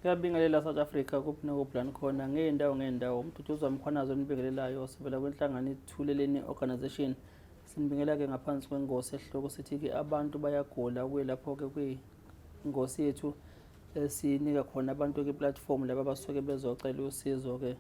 Kuyabingelela South Africa kuphi nakubhulani khona ngey'ndawo ngey'ndawo umduduzi wamkhwanazo enibingelelayo sivela kwenhlangano ithuleleni organisation sinibingela-ke ngaphansi kwengosi esihloko sithi-ke abantu bayagula kuye lapho-ke kwingosi yethu esinika khona abantu-ke iplatform laba abasuke bezocela usizo-ke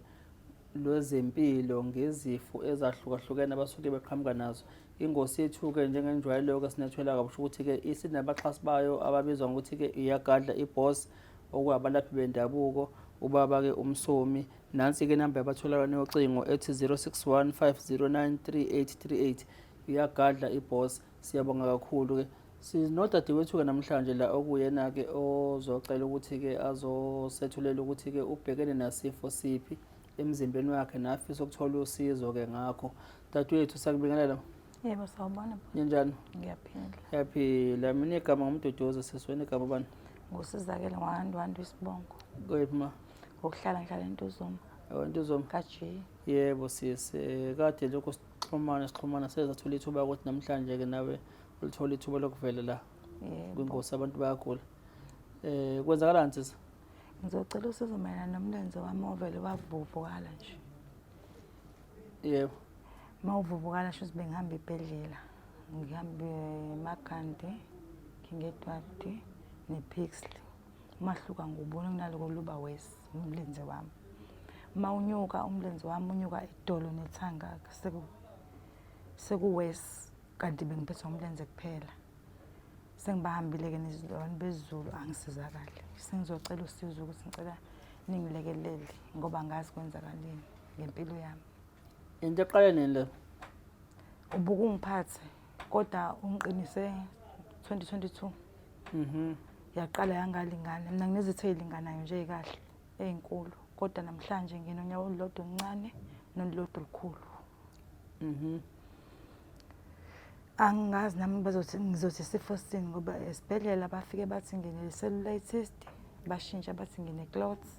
lwezempilo ngezifo ezahlukahlukene abasuke beqhamuka nazo ingosi yethu-ke njengenjwayelo-ke sinethwela kabusho ukuthi-ke isinabaxhasi bayo ababizwa ngokuthi-ke iyagadla ibhosi okwabalaphi bendabuko ubaba-ke umsomi nansi-ke inamba yabatholakala yocingo ethi 061 509 3838 uyagadla ibos siyabonga kakhulu-ke sinodadewethu-ke namhlanje la okuyena-ke ozocela ukuthi-ke azosethulela ukuthi-ke ubhekene nasifo siphi emzimbeni wakhe nafisa ukuthola usizo-ke ngakho dadewethu sakubingelela Yebo sawubona. Ninjani? Ngiyaphila. Ngiyaphila. Mina igama ngumduduzo sesweni igama bani? Ngusizakele ngwandu wandu isibongo. Kuyiphi ma? Ngokuhlala ngihlala entuzuma. Ewe entuzuma. Kaji. Yebo sisi eh, kade lokho sixhumana sixhumana seza thola ithuba ukuthi namhlanje ke nawe ulithola ithuba lokuvela la. Yebo. Kwinkosi abantu bayagula. Eh kwenzakalani sisi? Ngizocela usizo mayelana nomlenze wami ovele wavuvukala nje. yebo mawuvuvukala sho ukuthi bengihamba ibhedlela ngihambe emakhanti ngingedwadi nephixle umahluka ngubona kunaloko luba wesi umlenze wami uma unyuka umlenze wami unyuka idolo nethanga sekuwesi kanti bengiphethwa umlenze kuphela sengibahambile-ke nezilwane bezulu angisizakali sengizocela usizo ukuthi ngicela ningilekelele ngoba ngazi kwenzakaleni ngempilo yami into eqale nini le ubuka ungiphathe kodwa ungiqinise 2022 mhm yaqala yangalingana mina nginezithe ilinganayo nje kahle ezinkulu kodwa namhlanje nginonyawo olulodwa oluncane nolulodwa olukhulu mhm Angazi nami bazothi ngizothi isifo sini ngoba esibhedlela bafike bathi ngine cellulite cyst bashintsha bathi ngine clots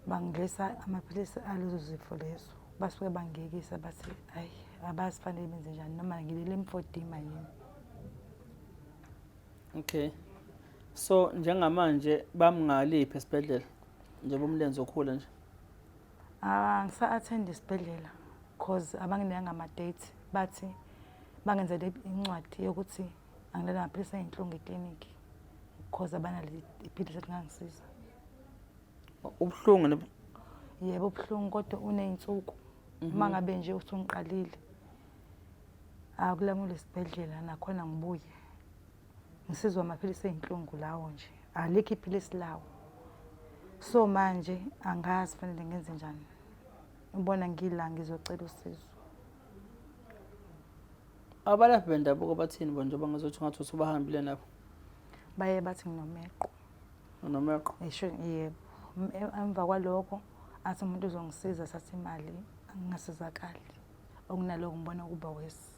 bangidlisa amaphilisi alezo zifo lezo basuke bangiyekisa bathi hayi abazi fanele benze njani noma ngilele emfodima yini okay so njengamanje bamngaliphi esibhedlela njengoba umlenze okhula nje Ah, ngisa-attend isibhedlela cause abangineyanga ama-date bathi bangenzele incwadi yokuthi angilele amaphilisi ayinhlungu eklinikhi cause abanaleli iphilisi elingangisiza ubuhlungu ne yebo ubuhlungu kodwa uney'nsuku mhm. uma ngabe nje usungiqalile akulamule isibhedlela nakhona ngibuye Ngisizwa amaphilisi ey'nhlungu lawo nje, alikho iphilisi lawo. So manje angazi fanele ngenze njani. Ubona ngila ngizocela usizo. Abalaphi bendabuko bathini bo njengoba ngizothi ngathi usubahambile nabo? Baye bathi nginomeqo. Unomeqo? Ngisho yebo. M- e- Emva kwaloko athi umuntu uzongisiza sathi imali angingasizakali. Okunaloko ngibona kuba wesi.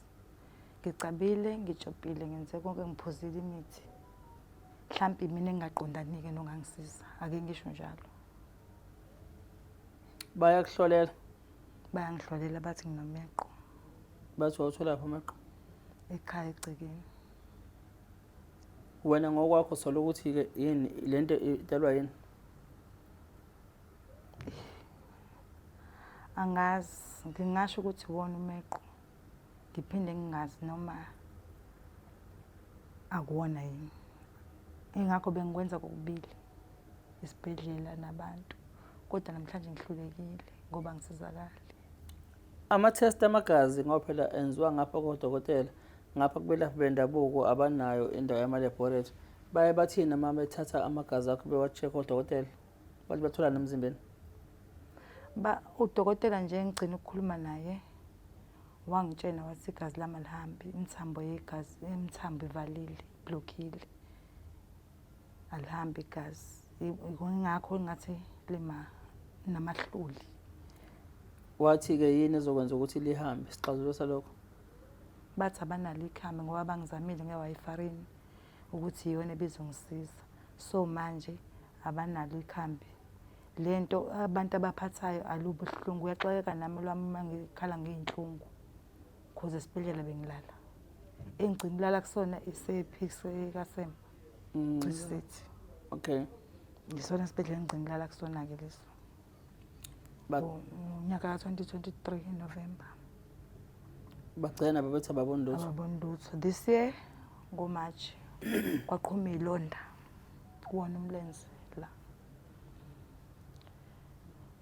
ngicabile ngijobhile ngenze konke ngiphuzile imithi mhlampe mina engingaqondanike nongangisiza ake ngisho njalo bayakuhlolela bayangihlolela bathi nginomeqo bathi wawutholaphi umeqo ekhaya egcekeni wena ngokwakho sola ukuthi-ke yini le nto idalwa yini angazi ngingasho ukuthi wona umeqo ngiphinde ngingazi noma akuwona yini ingakho bengikwenza kokubili isibhedlela nabantu kodwa namhlanje ngihlulekile ngoba ngisizakali ama-test amagazi ngoba phela enziwa ngapha kodokotela ngapha kubelaphi bendabuko abanayo indawo yamalebhorethi baye bathini uma bethatha amagazi akho bewa-check odokotela bathi batholana emzimbeni ba udokotela nje engigcina ukukhuluma naye wangitshena wathi igazi lami alihambi imithambo yegazi imithambo ivalile iblockile alihambi igazi ingakho ngathi lima namahluli wathi-ke yini ezokwenza ukuthi lihambe isixazululo salokho bathi abanalo ikhambi ngoba bangizamile ngewayifarini ukuthi iyona ebizongisiza so manje abanalo ikhambi le nto abantu abaphathayo alubuhlungu uyaxakeka nami lwami uma ngikhala ngiyinhlungu khoze esibhedlela bengilala engigcina ulala kusona isephikse kasema mm. cisisithi okay yisona sibhedlela engigcina ulala kusona-ke leso ngonyaka ka-2023 November bagcina nabo bethi ababoni lutho ababoni lutho this year ngomarch kwaqhuma ilonda kuwona umlenze la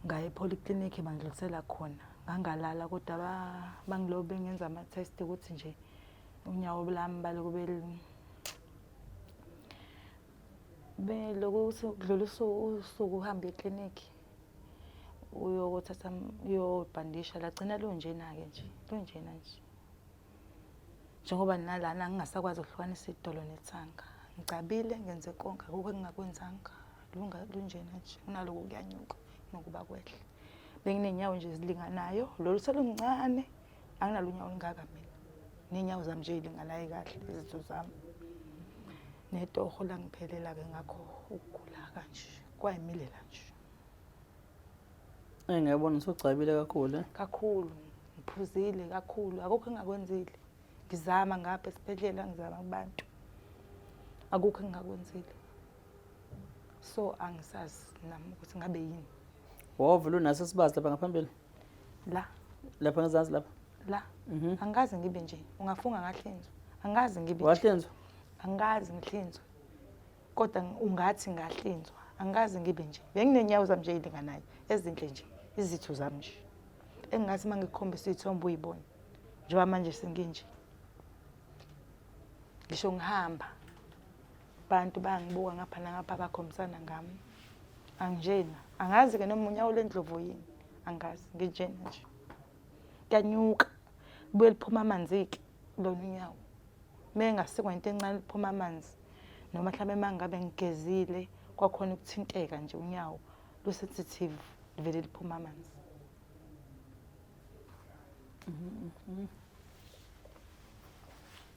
ngaye polyclinic bangidlulisela khona ngangalala kodwa bangilobe ngenza ama-test ukuthi nje unyawo lami balokube Belokhu ukuthi kudlula usuku uhambe eklinikhi uyokuthatha uyobhandisha lagcina lunjena-ke nje lunjena nje njengoba nalana ngingasakwazi ukuhlukanisa idolo nethanga ngicabile ngenze konke akukho engingakwenzanga lunjena nje kunaloko kuyanyuka nokuba kwehle benginey'nyawo nje ezilinganayo lolu seluncane anginalo unyawo olungaka mina ney'nyawo zami nje y'linganayo kahle izitho zami netoho langiphelela-ke ngakho ukugula kanje kwayimilela nje eyi ngiyabona usugcabile kakhulu eh? kakhulu ngiphuzile kakhulu akukho engakwenzile ngizama ngapha esibhedlela ngizama kubantu akukho engingakwenzile so angisazi nami ukuthi ngabe yini wovula unase sibazi lapha ngaphambili la lapha ngezansi lapha la mhm. angikaze ngibe nje ungafunga ngahlinzwa angikaze ngibe nje wahlinzwa angikaze ngihlinzwe kodwa ng- ungathi ngahlinzwa angikaze ngibe nje benginenyawo zami nje ey'linganayo ezinhle nje izitho zami nje engingathi uma ngikukhombisa iy'thombe uyibone njengoba manje senginje ngisho ngihamba abantu bangibuka ngapha nangapha bakhombisana ngami anginjena angazi-ke noma unyawo lendlovu yini angazi nginjena nje kuyanyuka kubuye liphuma amanzi-ke lona unyawo uma engasikwa into encane liphuma amanzi noma mhlawumbe uma ngabe ngigezile kwakhona ukuthinteka nje unyawo lusensitive livele liphuma amanzi mm-hmm.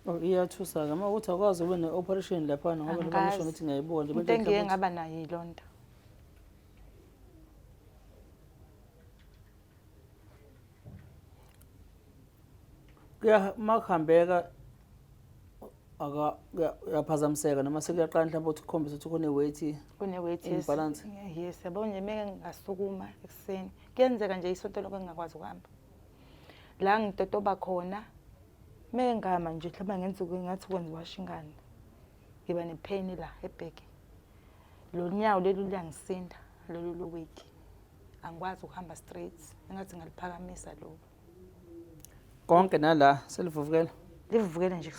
Oh, iyathusa-ke uma ukuthi akwazi ube ne-operation laphana ngoba noma ngisho ngithi ngiyayibona into engiye ngaba nayo yiloo nto uma kuhambeka uyaphazamiseka noma sekuyaqala mhlawumbe ukuthi ukhombise ukuthi kune-weighty kune-weightybalance yes yabo nje meke ngingasukuma ekuseni kuyenzeka nje isonto lokho engingakwazi ukuhamba la ngitotoba khona mengama nje mhlawumbe ngenza ngathi kwenza washo ingane ngiba ne-pain la ebheke lo nyawo leli luyangisinda lolu loweki angikwazi ukuhamba straight engathi ngaliphakamisa loku konke nala selivuvukela livuvukele nje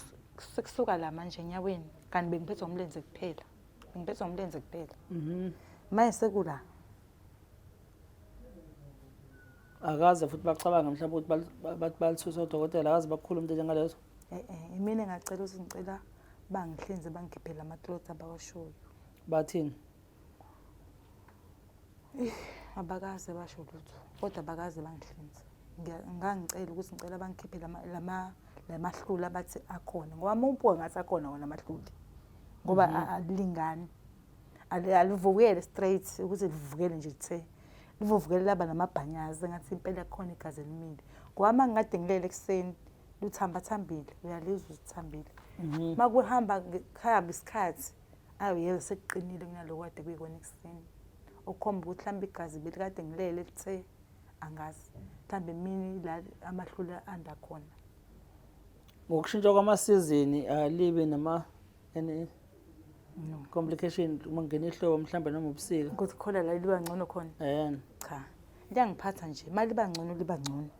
sekusuka la manje enyaweni kanti bengiphethwe umlenze kuphela bengiphethwe umlenze kuphela mhm. manje sekula akaze futhi bacabange mhlawumbe ukuthi bathi balithuse odokotela akaze bakhulu umuntu njengalezo e-e imina engacela ukuthi ngicela bangihlinze bangikhiphele ama-cloth abawashoyo bathini abakaze basho lutho kodwa abakaze bangihlinze ngangicela ukuthi ngicela bangikhiphe lamahlula abathi akhona ngoba uma ubuka ngathi akhona wona amahlula ngoba mhm. alilingani alivukele straight ukuthi livukele nje lithe livuvukele laba namabhanyazi engathi impela khona igazi elimile ngoba ngingade ngilele ekuseni luthambathambile uyalizwa uzithambile mhm. uma kuhamba kuhamba isikhathi ayo yeke sekuqinile kunaloko kade kuyikona ekuseni okukhomba ukuthi mhlawumbe igazi belikade ngilele lithe angazi mhlawumbe emini la amahlule anda khona ngokushintsha kwamasizini alibi eh, nama and no. complication uma ngena ihlobo mhlawumbe noma ubusika ukuthi khona la liba ngcono khona um cha liyangiphatha nje uma liba ngcono liba ngcono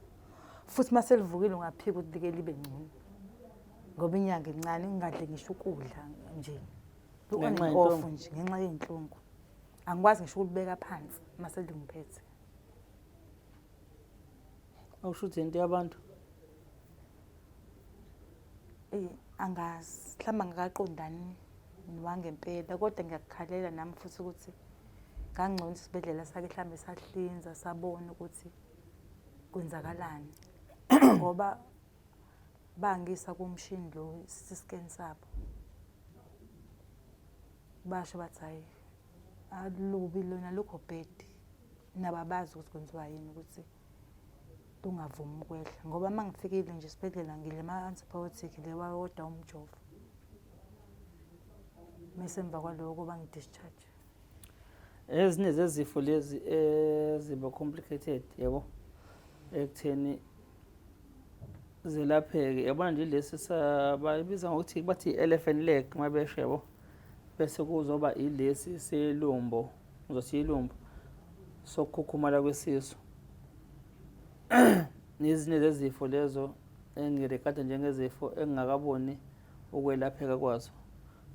futhi uma selivukile ungaphika ukuthi like libe ngcono ngoba inyanga incane ngingadle ngisho ukudla nje Ngenxa yenhlungu. off nje ngenxa yey'nhlungu angikwazi ngisho ukulibeka phansi uma selingiphethe awusho ukuthi yinto yabantu eyi angazi mhlawumbe angakaqondani wangempela kodwa ngiyakukhalela nami futhi ukuthi ngangcono isibhedlela sake mhlawumbe sahlinza sabona ukuthi kwenzakalani ngoba bangisa kumshini lo siscan sabo basho bathi hayi alubi lona lokho bhedi nabo abazi ukuthi kwenziwa yini ukuthi kungavumi ukwehla ngoba uma ngifikile nje esibhedlela ngile ma-antibiotic le wawoda umjovo mese emva kwaloko kuba ngi-discharge ezinye zezifo lezi eziba complicated yabo ekutheni zelapheke yabona nje lesi sabayibiza ngokuthi bathi i-elephant leg uma besho yabo bese kuzoba ilesi selumbo Uzothi ilumbu sokukhukhumala kwesisu nezinye zezifo lezo engirekada njengezifo engingakaboni ukwelapheka kwazo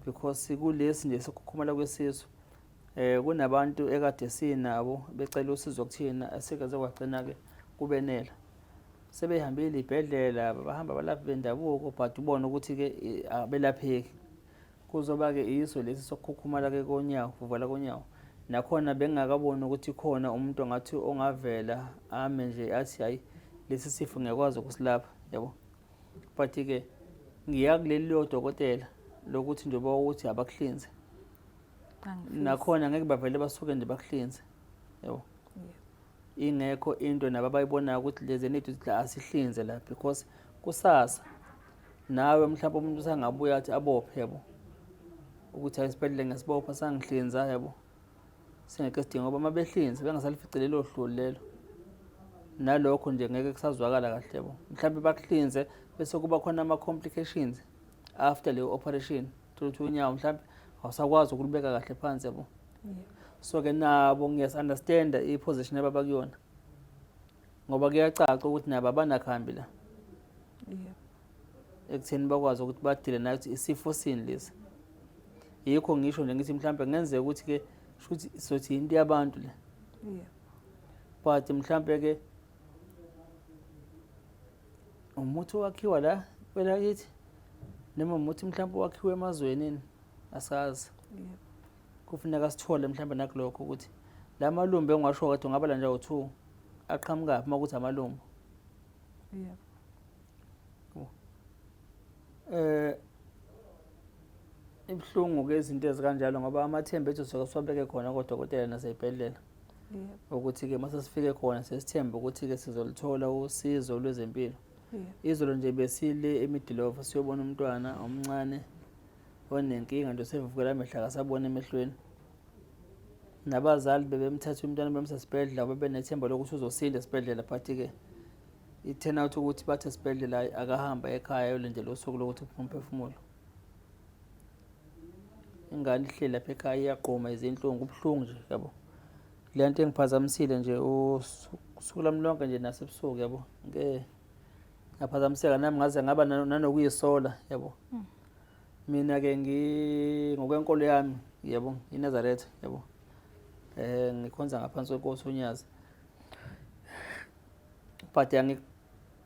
because kulesi nje sokukhukhumala kwesisu eh kunabantu ekade sinabo becela usizo kuthina esikaze kwagcina-ke kubenela sebehambile ibhedlela bahamba balaphi bendabuko but ubona ukuthi-ke abelapheki Kuzoba-ke iso lesi sokukhukhumala ke konyawo, kuvala konyawo. Nakhona bengingakaboni ukuthi khona umuntu ongathi ongavela ame nje athi hayi lesi sifo ngiyakwazi ukusilapha, yabo. But-ke ngiya kuleli lodokotela lokuthi njengoba ukuthi abakuhlinze. Nakhona ngeke bavele basuke nje bakuhlinze, yabo. Ingekho into nabo abayibonayo ukuthi lezi ney'thuthi la asihlinze la because kusasa nawe mhlawumbe umuntu usangabuya athi abophe yabo ukuthi hayi isibhedlela ngesibopha sangihlinza yabo singeke sidinga ngoba uma behlinze bengasalifice lelo hloli lelo nalokho nje ngeke kusazwakala kahle yabo mhlawumbe bakuhlinze bese kuba khona ama-complications after leyo operation thola ukuthi unyawo mhlawumbe awusakwazi ukulubeka kahle phansi yabo so-ke nabo ngiyas-understanda i-position ababakuyona ngoba kuyacaca ukuthi nabo abanakhambi la ekutheni bakwazi ukuthi badile nakuthi isifo sini lesi yikho ngisho nje ngithi mhlawumbe kungenzeka ukuthi-ke shuthi sothi yinto yabantu le but mhlawumbe-ke umuthi owakhiwa la kwelakithi noma umuthi mhlawumbe owakhiwa emazwenini asazi yeah. kufuneka sithole mhlawumbe nakulokho ukuthi la malumbu engiwasho kade ungabala nje awu-two aqhamukaphi uma kuthi amalumbu yeah. eh ibuhlungu ke izinto ezikanjalo ngoba amathemba ethu soke siwabeke khona kodokotela nasey'bhedlela ukuthi-ke uma sesifike khona sesithembe ukuthi-ke sizoluthola usizo lwezempilo izolo nje besile emidilova siyobona umntwana omncane onenkinga nje sevukela amehlo akasaboni emehlweni nabazali bebemthatha umntwana bemsa esibhedlela bebenethemba lokuthi uzosinda esibhedlela but-ke i-turn out ukuthi bathi esibhedlela akahamba ekhaya yolindela usuku lokuthi uphume umphefumulo ingane ihleli lapha ekhaya iyagquma izinhlungu kubuhlungu nje yabo le nto engiphazamisile nje usuku lami lonke nje nasebusuku yabo ngeke ngaphazamiseka nami ngaze ngaba nanokuyisola yabo mm. Mina-ke ngokwenkolo yami yebo iNazaretha yebo eh ngikhonza ngaphansi kwenkosi uNyazi but yangi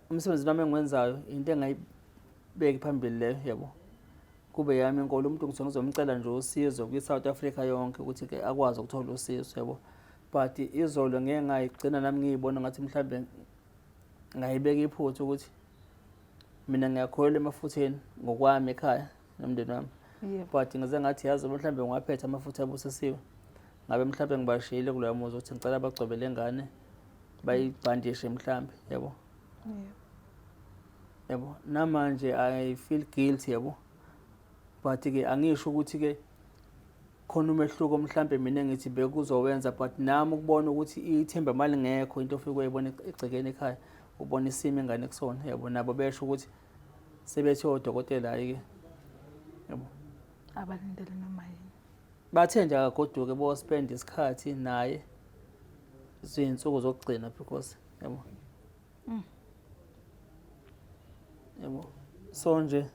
umsebenzi wami engiwenzayo into engayibeki phambili leyo yebo kube yami inkolo umuntu ngizwe ngizomcela nje usizo kwi-south africa yonke ukuthi ke akwazi ukuthola usizo yebo but izolo ngeke ngayigcina nami ngiyibona ngathi mhlawumbe ngayibeka iphutha ukuthi mina ngiyakholelwa emafutheni ngokwami ekhaya nomndeni wami but ngize ngathi yazi mhlawumbe ngiwaphethe amafutha abusisiwe ngabe mhlawumbe ngibashiyile kuloya muzi ukuthi ngicela bagcobe le ngane bayibhandishe mhlawumbe yabo yabo namanje i feel guilty yabo but-ke angisho ukuthi-ke khona umehluko mhlampe mina ngithi bekuzowenza but nami ukubona ukuthi ithemba mali ngekho into ofike uyibona egcekeni ekhaya ubona isimo ingane kusona yabo nabo besho ukuthi sebethi odokotela hayi ke yabo abalindele noma yini bathe nje akagoduke bo spend isikhathi naye zinsuku zokugcina because yabo Mm. Yebo. So nje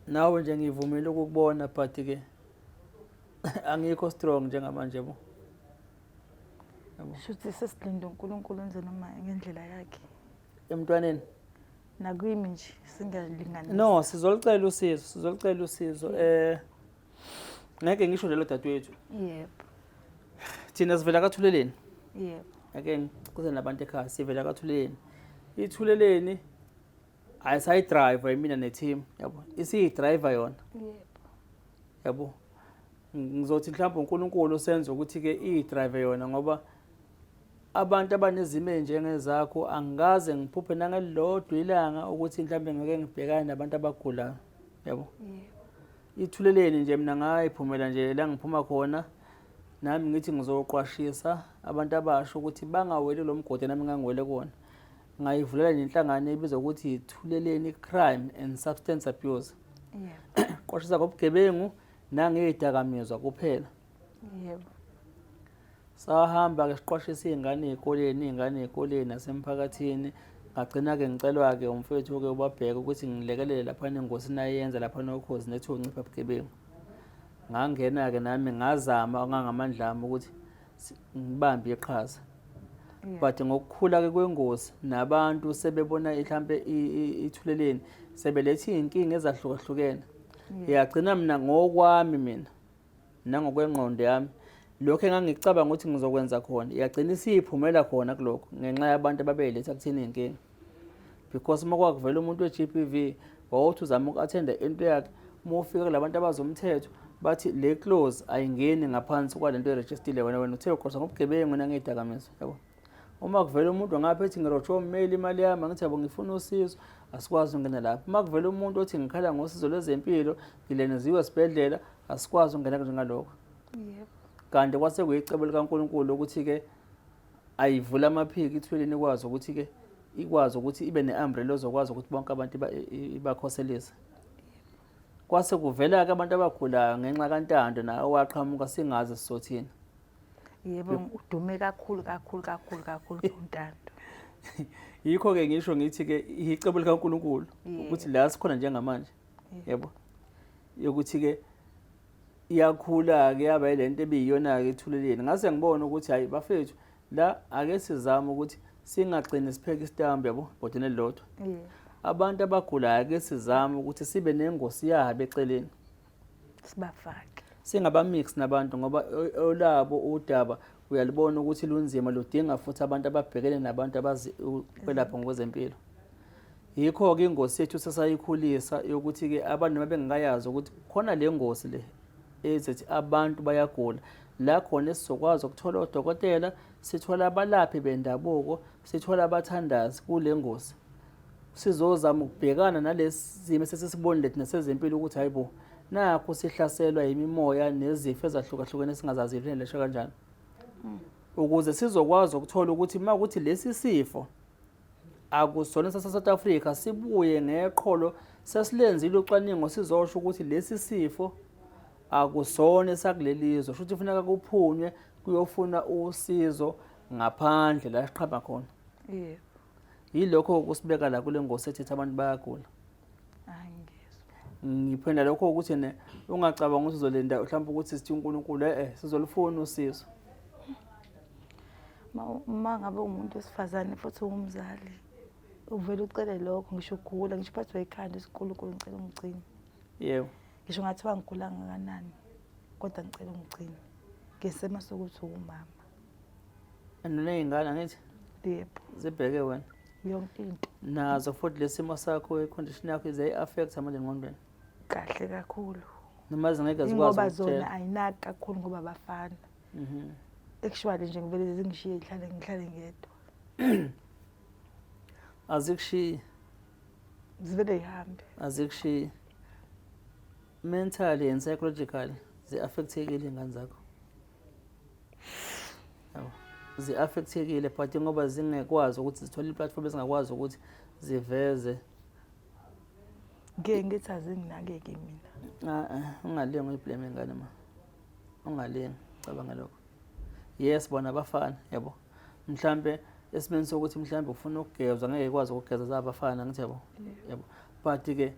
nawe nje ngivumile ukukubona but ke angikho strong njengamanje bo. Yebo. Shuthi sesilinde uNkulunkulu enze noma ngendlela yakhe. Emntwaneni nakwimi nje singalingani. No, sizolicela usizo, sizolicela usizo. Eh ngeke ngisho lelo dadewethu yebo thina sivela kathuleleni yebo ngeke ngikuze nabantu ekhaya sivela kathuleleni ithuleleni ayisayidriver imina neteam yabo isiyidriver yona yebo yabo ngizothi mhlawumbe uNkulunkulu senze ukuthi ke idrive yona ngoba abantu abanezimo enjengezakho angikaze ngiphuphe nangelilodwa ilanga ukuthi mhlawumbe ngeke ngibhekane nabantu abagulayo yabo Ithuleleni nje mina ngayiphumela nje la ngiphuma khona nami ngithi ngizoqwashisa abantu abasha ukuthi bangaweli lo mgodi nami ngangiwele kona ngayivulela nje inhlangano ebizwa ukuthi Thuleleni Crime and Substance Abuse qwashisa ngobugebengu nangezidakamizwa kuphela yebo sahamba-ke siqwashisa iy'ngane ey'koleni iy'ngane ey'koleni nasemphakathini ngagcina-ke ngicelwa-ke umfethu-ke ubabheke ukuthi ngilekelele laphana engosini ayenza laphana okhozi nethi uncipha bugebengu ngangena-ke nami ngazama ngangamandla ami ukuthi ngibambe iqhaza but ngokukhula-ke kwengozi nabantu sebebona mhlampe ithuleleni sebeletha iy'nkinga ezahlukahlukene yagcina mina ngokwami mina nangokwengqondo yami lokho engangicabanga ukuthi ngizokwenza khona yagcina isiyiphumela khona kulokho ngenxa yabantu ababeyiletha kuthina inkinga because uma kwakuvela umuntu we-GBV wawuthi uzama uku-athenda into yakhe uma ufika kula bantu abazomthetho bathi le close ayingeni ngaphansi kwale nto erejistile wena wena uthe uqosa ngobugebengu nangeyidakamizwa yabo uma kuvela umuntu ngapha ethi ngirotshe ommeli imali yami angithi yabo ngifuna usizo asikwazi ukungena lapho uma kuvela umuntu othi ngikhala ngosizo lwezempilo ngileneziwe esibhedlela asikwazi ukungena njengalokho kanti kwase kuyicebo likankulunkulu ukuthi-ke ayivula amaphiki ithweleni ikwazi ukuthi-ke ikwazi ukuthi ibe ne-umbrella ozokwazi ukuthi bonke abantu ibakhoselise kwase kuvela-ke abantu abagulayo ngenxa kantando nawo waqhamuka singazi sizothini yebo udume kakhulu kakhulu kakhulu kakhulu untando yikho ke ngisho ngithi ke icebo likaNkuluNkulu ukuthi la sikhona njengamanje yebo yokuthi ke iyakhula ke yaba lento ebiyiyona ke ethuleleni ngase ngibona ukuthi hayi bafethu la ake sizame ukuthi singagcini sipheke isitambu yabo bhodini elilodwa abantu abagulayo ake sizame ukuthi sibe nengosi yabo eceleni sibafake singabamix nabantu ngoba olabo udaba uyalibona ukuthi lunzima ludinga futhi abantu ababhekene nabantu abazi ukwelapha ngokwezempilo yikho-ke ingosi yethu sesayikhulisa yokuthi-ke abantu noma bengakayazi ukuthi khona le ngosi le ezithi abantu bayagula la khona esizokwazi ukuthola odokotela sithola abalaphi bendabuko Sithola abathandazi kule ngosi sizozama ukubhekana nalesi simo sesisibonile thina sezempilo ukuthi hayi bo nakho sihlaselwa yimimoya nezifo ezahlukahlukene singazazi ukuthi lesho kanjani hmm. ukuze sizokwazi ukuthola ukuthi uma ukuthi lesi sifo akusona sase-south africa sibuye ngeqholo sesilenzile ucwaningo sizosho ukuthi lesi sifo akusona esakuleli zwe shuthi kufuneka kuphunywe kuyofuna usizo ngaphandle la siqhaba khona yebo yilokho kusibeka la kule ngosi ethethe abantu bayagula ngiphenda lokho ukuthi ne ungacabanga ukuthi uzolinda mhlawumbe ukuthi sithi uNkulunkulu eh, eh sizolufuna usizo uma ngabe umuntu wesifazane futhi ungumzali uvele ucele lokho ngisho ugula ngisho uphathwa ikhanda isikhulukhulu ngicela ungigcine yebo ngisho ngathiwa ngigula ngakanani kodwa ngicela ungigcine ngesema sokuthi uwumama and uney'ngane angithi yebo zibheke wena yonke into nazo futhi lesimo sakho icondition yakho ize i-affect manje engqondweni kahle kakhulu noma zingeke zikwazi zona ayinaki kakhulu ngoba bafana mhm. actually nje ngivele zingishiye ngihlale ngihlale ngedwa azikushiyi zivele yihambe azikushiyi mentally and psychologically zi-affectekile iy'ngane zakho zi-affectekile but ngoba zingekwazi ukuthi zithole iplatform ezingakwazi ukuthi ziveze ngeke ngithi azinginakeki mina ungalingi uyiblame ngane ma ungalingi cabanga lokho yes bona bafana yabo mhlambe esimeni sokuthi mhlambe ufuna ukugezwa ngeke ikwazi ukugeza zabafana ngithi yabo yabo but ke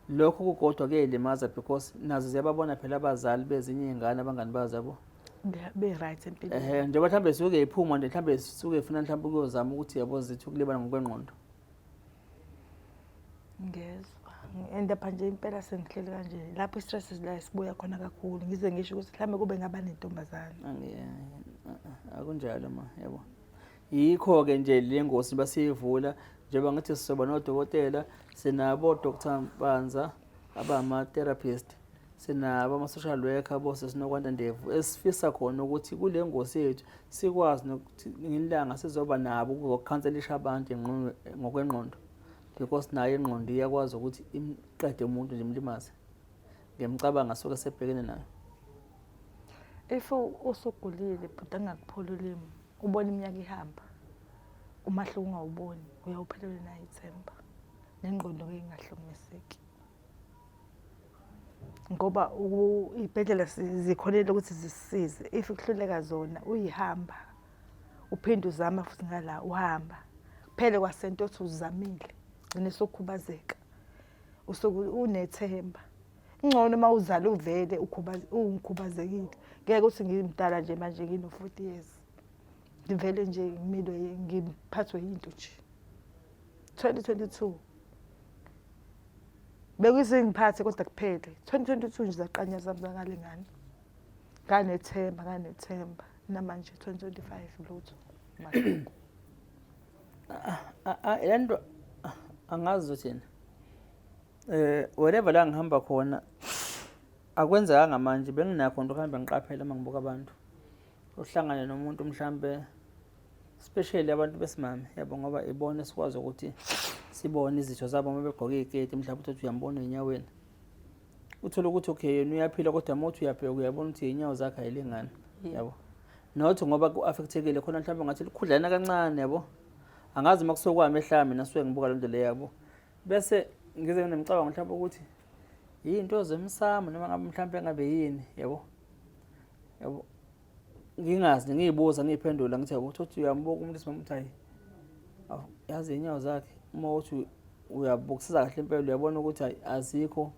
lokho kukodwa kuyayilimaza because nazo ziyababona phela abazali bezinye iy'ngane abangani bazo yabo be-right empilweni ehe njengoba mhlawumbe zisuke iphuma nje mhlawumbe zisuke ifuna mhlawumbe ukuyozama ukuthi yabo zithi ukulibala ngokwengqondo ngezwa endapha nje impela sengihleli kanje lapho i-stress la sibuya khona kakhulu ngize ngisho ukuthi mhlawumbe kube ngaba nentombazane Angi- eh, eh, akunjalo ma yabo Yikho-ke nje le ngosi basiyivula njengoba ngithi sizoba nodokotela sinabo Dr Mpanza abama-therapist sinabo ama-social worker bose sinokwanda ndevu esifisa khona ukuthi kule ngosi yethu sikwazi nokuthi ngilanga sizoba nabo ukuzokhanselisha abantu ngokwengqondo because nayo ingqondo iyakwazi ukuthi imqede umuntu nje imlimaze ngiyamcabanga soke sebhekene nayo if usugulile bhuti angakupholi ulimi ubona iminyaka ihamba umahluko ungawuboni uyawuphelelwe nayo ithemba nengqondo ke ingahlukumezeki ngoba iy'bhedlela zikholelwa ukuthi zisisize if kuhluleka zona uyihamba uphinde uzama futhi ngala uhamba kuphele kwasento othi uzamile gcine sokhubazeka usuke unethemba Ngcono uma uzala uvele ungikhubazekile. Ngeke uthi ngimdala nje manje ngino-forty years. Ngivele nje ngimilwe ngiphathwe yinto nje. Twenty twenty two. Bekuyizingiphathe kodwa kuphele. Twenty twenty two nje zaqanya zami zakale ngane. Nganethemba nganethemba namanje twenty twenty five lutho. Mahlungu. Ah, ah, ah, lento angazi uthini Eh wherever la ngihamba khona akwenzekanga manje benginakho nto kuhambe ngiqaphela uma ngibuka abantu uhlangane nomuntu mhlambe especially abantu besimame yabo ngoba ibona esikwazi ukuthi sibone izitho zabo uma begqoke iketi mhlawumbe uthi uyambona enyaweni uthole ukuthi okay yena uyaphila kodwa uma uthi uyabheka uyabona ukuthi inyawo zakhe ayilingani yabo not ngoba ku-affectekile khona mhlawumbe ngathi likhudlana kancane yabo angazi uma kusokwami ehlaya mina suke ngibuka loo nto le yabo bese ngize nginemcabango mhlawumbe ukuthi yinto zemsamo noma ngabe mhlawumbe ngabe yini yabo yabo ngingazi ngiyibuza ngiyiphendula ngithi yabo uthi uyambuka umuntu simama uthi hayi yazi inyawo zakhe uma uthi uyabukisisa kahle impela uyabona ukuthi azikho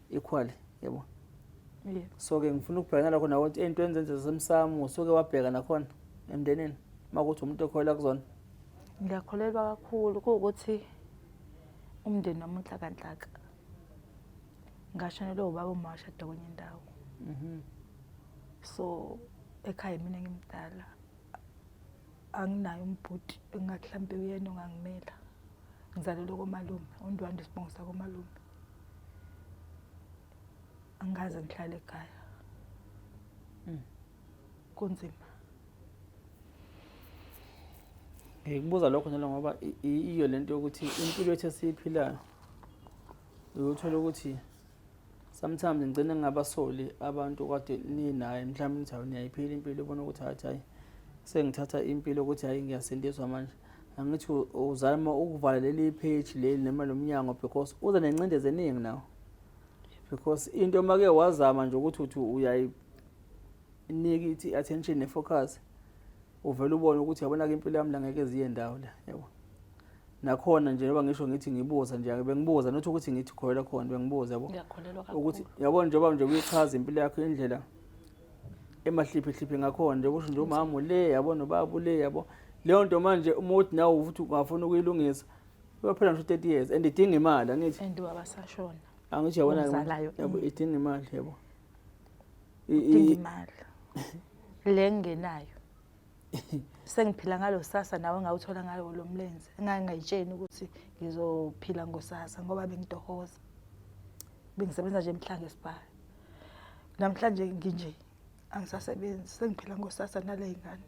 equally yebo yeah. so ke ngifuna ukubhekana lakho nawe ukuthi into enzenze zasemsamo usuke wabheka nakhona emndenini uma kuthi umuntu okholelwa kuzona ngiyakholelwa kakhulu kuwukuthi umndeni wami unhlakanhlaka ngashonelwe ubaba umawashada kwenye indawo mhm. so ekhaya mina ngimdala anginayo umbhuti engathi mhlawumbe uyena ongangimela ngizalelwe komalume undwanda isibongo sakomalume angikaze ngihlale ekhaya hmm. kunzima ngikubuza lokho njalo ngoba iyo le nto yokuthi impilo yethu esiyiphilayo uyothola ukuthi sometimes ngigcine ngingabasoli abantu kade ninaye mhlawumbe nithi hawu niyayiphila impilo ubona ukuthi hathi hayi sengithatha impilo ukuthi hhayi ngiyasindiswa manje angithi uzama ukuvala leli page leli noma lo mnyango because uza nencindezi eningi nawo because into uma ke wazama nje ukuthi uthi uyayinika ithi attention ne-focus uvele ubone ukuthi yabona-ke impilo yami la ngeke ziye ndawo la yabo nakhona nje njengoba ngisho ngithi ngibuza nje bengibuza nothi ukuthi ngithi kholela khona bengibuza yabo ukuthi yabona njengoba nje uyichaza impilo yakho indlela emahliphihliphi ngakhona nje kusho nje umama ule yabo nobaba ule yabo leyo nto manje uma uthi nawe ukuthi ungafuna ukuyilungisa uyophela ngisho 30 years and idinga imali angithi and ubaba sashona angithi yabona yabo mm. idinga imali yabo idinga imali le ngenayo sengiphila ngalo sasa nawe ngawuthola ngalo lo mlenze ngangayitsheni ukuthi ngizophila ngosasa ngoba bengitohoza bengisebenza nje emhlanga esibhayi namhlanje nginje angisasebenzi sengiphila ngosasa nale ngane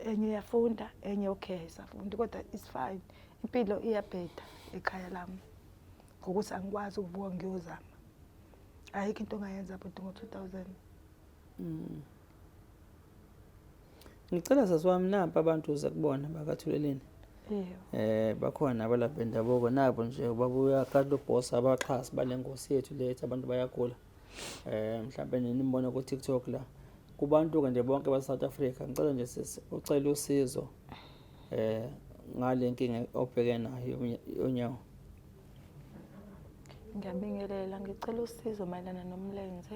enye iyafunda enye okay ayisafundi kodwa it's fine impilo iyabheda ekhaya lami ngokuthi angikwazi ukubuka ngiyozama ayikho into ongayenza bhuti ngo-two thousand Mm. Ngicela zazi wami napa abantu uze kubona bakathuleleni. Eh bakhona abalapha bendabuko nabo nje babuya kalo boss abaxhasi balengosi yethu lethi abantu bayagula. Eh mhlawumbe nini nimbona ku TikTok la. Kubantu ke nje bonke ba South Africa ngicela nje sisi ucela usizo eh ngale nkinga obheke nayo yonyawo. Ngiyabingelela ngicela usizo mayelana nomlenze.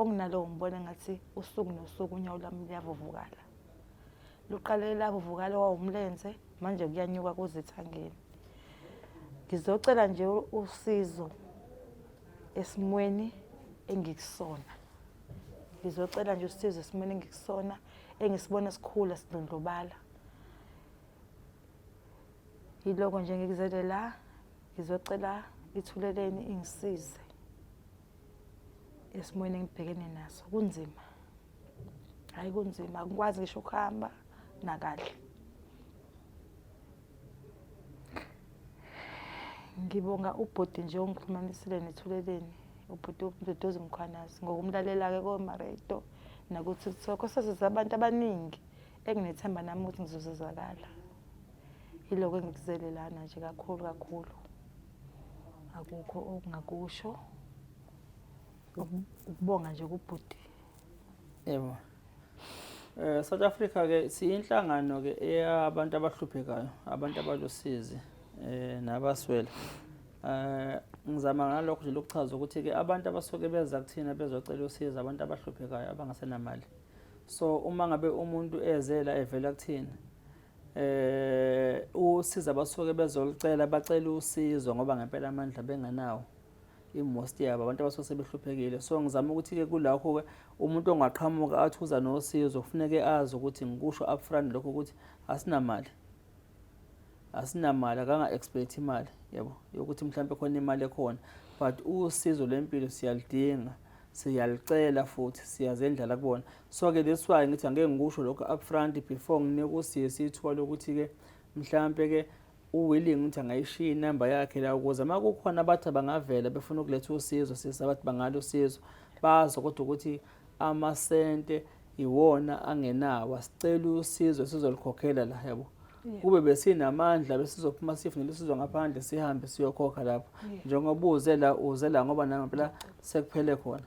okunalowo ngibona ngathi usuku nosuku unyawo lwami luyavuvukala luqale lavuvukala wawumlenze manje kuyanyuka kuzithangeni ngizocela nje usizo esimweni engikusona ngizocela nje usizo esimweni engikusona engisibona sikhula sidlondlobala yiloko nje ngikuzele la ngizocela ithuleleni ingisize esimweni engibhekene naso kunzima hayi kunzima akukwazi ngisho ukuhamba nakahle ngibonga ubhuti nje ongikhulumanisile nethuleleni ubhuti udodozi mkhwanazi ngokumlalela-ke komaredo nakuthi sokho sasiza abantu abaningi enginethemba nami ukuthi ngizozizakala yiloko engikuzele lana nje kakhulu kakhulu akukho okungakusho ukubonga nje kubhuti yebo eh South Africa ke siyinhlangano ke eyabantu abahluphekayo abantu abalosizi eh nabaswele eh ngizama ngalokho nje lokuchaza ukuthi ke abantu abasuke beza kuthina bezocela usizo abantu abahluphekayo abangasenamali so uma ngabe umuntu ezela evela kuthina eh usiza abasuke bezolicela bacela usizo ngoba ngempela amandla bengenawo i-most yabo abantu abasuke sebehluphekile so ngizama ukuthi-ke kulakho-ke umuntu ongaqhamuka athi uza nosizo kufuneke azi ukuthi ngikusho upfront lokho ukuthi asinamali asinamali akanga-expect imali yabo yokuthi mhlawumbe khona imali ekhona but usizo lwempilo siyalidinga siyalicela futhi siyazendlala kubona so ke that's why ngithi angeke ngikusho lokho up front before nginike usisi ithuba lokuthi ke mhlampe ke uwilling ukuthi angayishiya inamba yakhe la ukuze uma kukhona abathi bangavela befuna ukuletha usizo sisi abathi bangalo usizo bazo kodwa ukuthi amasente iwona angenawo sicela usizo sizolikhokhela la yabo kube besinamandla besizophuma sifune lesizo ngaphandle sihambe siyokhokha lapho njengoba uze la uze la ngoba nami phela sekuphele khona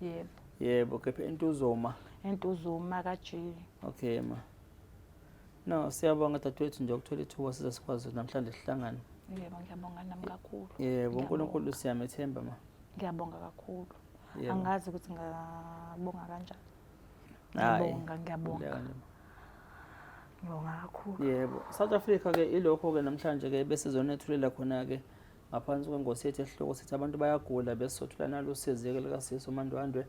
yebo yebo kephi entuzoma entuzoma kajili okay ma no siyabonga dadewethu nje ukuthola ithuba size sikwazi namhlanje sihlangane yebo ngiyabonga nami kakhulu yebo unkulunkulu siyamethemba ma ngiyabonga kakhulu angazi ukuthi ngabonga kanjani ngiyabonga ngiyabonga ngibonga kakhulu yebo south africa ke ilokho ke namhlanje ke besizonethulela khona ke ngaphansi kwengosi yethu esihloko sithi abantu bayagula besothula nalo usizeke likasisi umandwandwe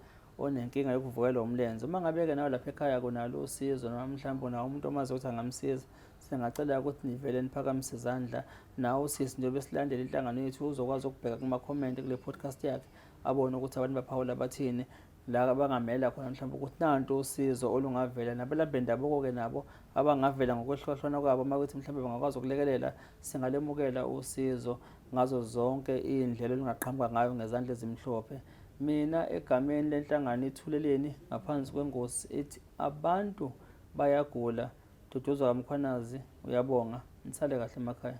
onenkinga yokuvukelwa umlenze uma ngabe-ke nawe lapha ekhaya kunalo usizo noma mhlawumbe unawo umuntu omazi ukuthi angamsiza singacela ukuthi nivele niphakamise izandla nawe usisi njengoba silandela inhlangano yethu uzokwazi ukubheka kumakhomenti kule podcast yakhe abone ukuthi abantu baphawula bathini la bangamela khona mhlawumbe ukuthi nanto usizo olungavela nabalaphi bendabuko-ke nabo abangavela ngokwehlukahlukana kwabo uma kuthi mhlawumbe bangakwazi ukulekelela singalemukela usizo ngazo zonke iy'ndlela olungaqhamuka ngayo ngezandla ezimhlophe mina egameni lenhlangano ithuleleni ngaphansi kwengosi ethi abantu bayagula duduzwa kamkhwanazi uyabonga nisale kahle emakhaya